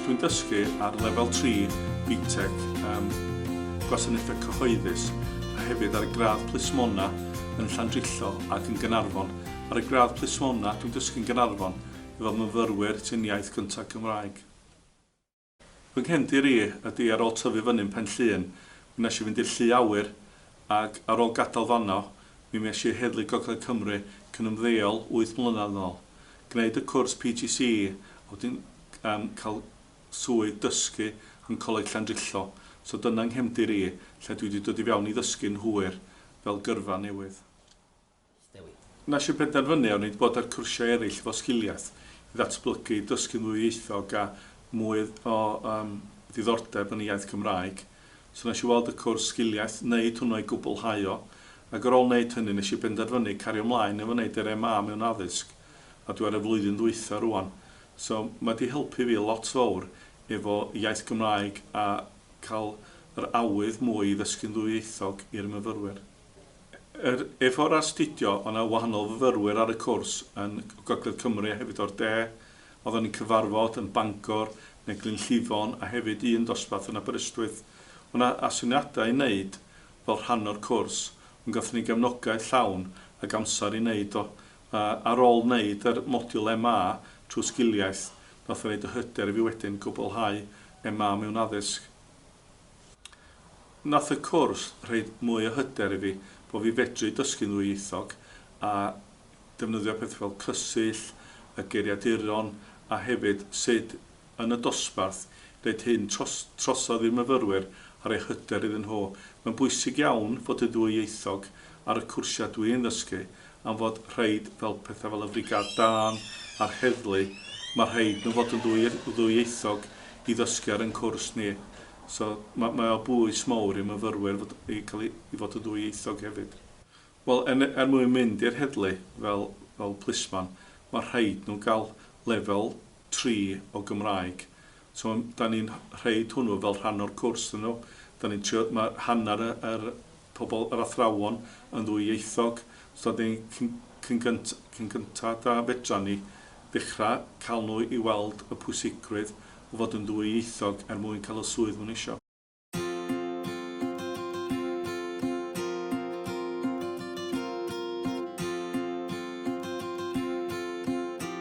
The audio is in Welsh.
Dwi'n dysgu ar lefel 3 BTEC ym Gwasanaethau Cyhoeddus a hefyd ar y gradd plismona yn Llandrillo ac yn Gaernarfon. Ar y gradd plismona dwi'n dysgu'n Gaernarfon i fod yn fyfyrwyr sy'n iaith gyntaf Gymraeg. Fy nghefndir i ydy ar ôl tyfu fyny'n Pen Llŷn, mi nes i fynd i'r Llu Awyr, ac ar ôl gadael fanno, mi mes i â heddlu Gogledd Cymru cyn ymddeol wyth mlynedd yn ôl. Gwneud y cwrs PGCE a wedyn yym cael swydd dysgu yn Coleg Llandrillo, so dyna nghefndir i, lle dwi 'di dod i fewn i ddysgu'n hwyr fel gyrfa newydd. Wnes i benderfynu onid bod ar cwrsiau eraill efo sgiliaeth i ddatblygu, dysgu'n ddwyieithog a mwy o yym ddiddordeb yn y iaith Gymraeg. So nes i weld y cwrs sgiliaeth, neud hwnnw a'i gwblhau o, ac ar ôl neud hynny nes i benderfynu cario mlaen efo neud yr MA mewn addysg, a dwi ar y flwyddyn ddwytha rŵan. So ma di helpu fi lot fowr efo iaith Gymraeg a ca'l yr awydd mwy i ddysgu'n ddwyieithog i'r myfyrwyr. Yr efo'r astudio, o' 'na wahanol fyfyrwyr ar y cwrs yn Gogledd Cymru a hefyd o'r De. Oeddan ni'n cyfarfod yn Bangor neu Glynllifon a hefyd un dosbarth yn Aberystwyth. O' 'na asyniadau i wneud fel rhan o'r cwrs ond gathon ni gefnogaeth llawn ag amser i wneud o. A ar ôl wneud yr modiwl MA trwy sgiliaeth, nath o neud y hyder i fi wedyn gwblhau MA mewn Addysg. Nath y cwrs rhoid mwy o hyder i fi bo fi fedru dysgu'n ddwyieithog a defnyddio pethe fel cysill, y geiriaduron a hefyd sud yn y dosbarth neud hyn tros trosodd i'r myfyrwyr a roi hyder iddyn nhw. Mae'n bwysig iawn fod yn ddwyieithog ar y cwrsia dwi'n ddysgu am fod rhaid fel pethau fel y Frigâd Dân a'r Heddlu, mae rhaid nhw fod yn ddwy ddwyieithog i ddysgu ar ein cwrs ni. So mae mae o bwys mawr i myfyrwyr fod i cael i i fod yn ddwyieithog hefyd. Wel er er mwyn mynd i'r heddlu fel fel plismon mae rhaid nhw gael lefel tri o Gymraeg. So mae dan ni'n rhaid hwnnw fel rhan o'r cwrs iddyn nhw. Dan ni'n trio ma' hanner yr pobl yr athrawon yn ddwyieithog, so dan ni cyn cyn gynt cyn gynta da fedran ni ddechra cael nhw i weld y pwysigrwydd o fod yn ddwyieithog er mwyn cael y swydd ma nhw isio.